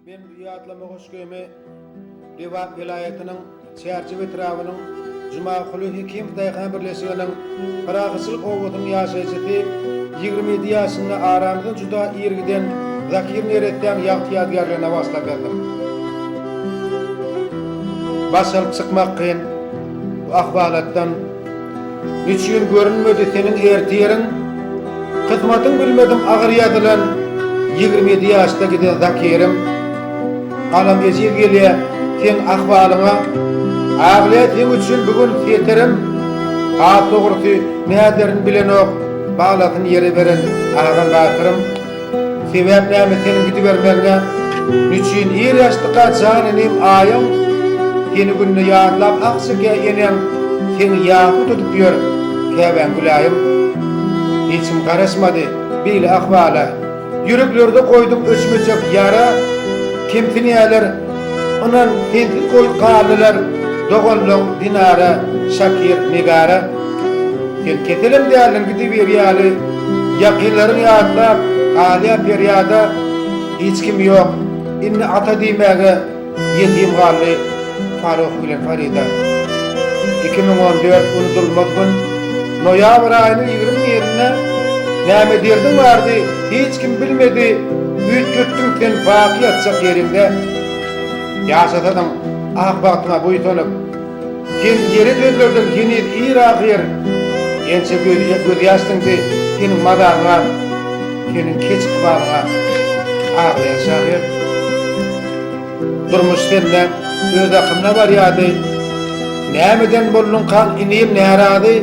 Men bu ýatlama goşgymy Lebap welaýatynyň Çärjew etrabynyň Jumaguly Hekimow daýhan birleşiginiň Pyragyçylyk obasynyň ýaşaýjysy, ýigrimi ýedi ýaşynda aramyzdan juda ir giden Zakir neressäň ýagty ýadygärligine bagyşlap ýazdym. Baş alyp çykmak kyn bu ahwalatdan. Niçin görünmedi seniň erti ýeriň? Kysmatyň bilmedim agyr ýazylan Ýigrimi ýedi ýaşda giden Zakiriň Galam ejiz gelýä seň ahwalyňa Aglaýa seň üçin bu gün Setirim Has dogrusy näderin bilenok Balasyn ýere beren Agam Bakyrym Sebäp näme seniň gidibermegiňe? Nüçin ir ýaşdyka jan inim Aýyň seni günde ýadlap ah çekä Eneň seni ýakuty tutup ýör Käbäň Gülaýym Hiç kim garaşmady beýle ahwala Ýüreklerde goýduň öçmejek ýara Kemsinýäler ynan sensiz goý galdylar Doganlaň Dinara, Şakir, Negara. Sen keselem däldiň gidiberýäli, ýakynlaryň ýatlap, galýar perýada, Hiç kim ýok, indi ata diýmäge, ýetim galdy Faruk bilen Farida. Iki müň on dört Unudylmaz gün Noýabr aýynyň ýigrimi birinde Näme derdiň bardy, hiç kim bilmedi, Üýtgetdiň sen baky ýatjak ýeriňde. Ýaşasadyň ak bagtyňa buýsanyp, Sen ýere gözlerden heniz ir ahyr, Ençe gözýa gözýaş siňdi seniň mazaryňa, Seniň keç ykbalyňa aglaýan şahyr. Durmuş sende öz akyna barýady, Nämeden bolduňkaň inim närazy,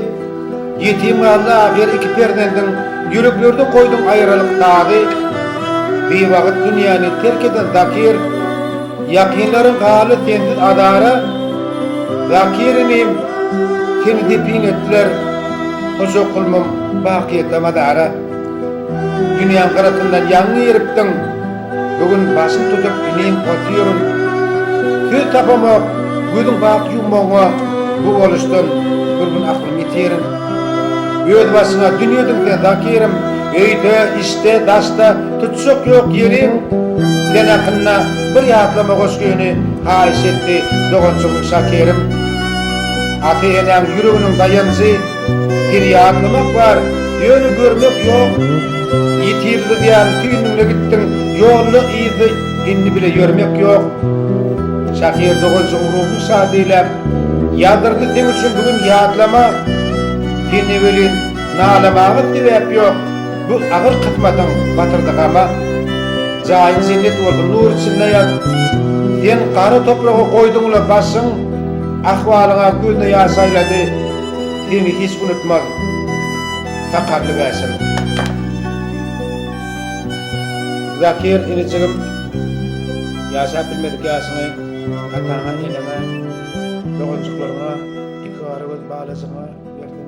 Ýetim galdy ahyr iki perzendiň, Ýüreklerde goýduň aýralyk dagy. Biwagyt dünýäni terk eden zakyr. Ýakynlaryň galy sensiz azara, Zakirimim, seni depin etdiler, Hojakulmym, bakyýete mazara. Dünýäň gyrasyndan ýaňy giripdiň, Bu gün başym tutup inim otyryn. Söz tapamok, gözüň bak ýummagyňa, Bu boluşdan bir gün aklym ýitirin. Özbaşyňa dünýediň sen, Zakirim, Öýde, işde, daşda, Çök ýok ýeriň sen hakynda bir ýatlama goşgyny haýyş etdi doganjygym Şakerim. Ata-enäň ýüreginiň daýanjy, seni ýatlamak bar, ýöne görmek ýok. Ýitirildi diýýän tüýnüňde gitdiň, ýolda yzda indi bile ýörmek ýok. Şaker doganjygym ruhuň şad diläp, ýazdyrdy seň üçin bu gün ýatlama. Sende welin nalamaga sebäp ýok. Bu agyr kysmatyň batyrdy gama, Jaýyň jennet bolsun, nur içinde ýat. Sen gara topraga goýduň-la başyň, Ahwalyňa gözne ýaş aýlady, Seni hiç unutmaz sakarly bäşim. Zakir inijigim, ýaşap bilmedik ýaşyňy ataňa, eneňe, doganjyklaryňa, iki gara göz balajygyňa berdiň.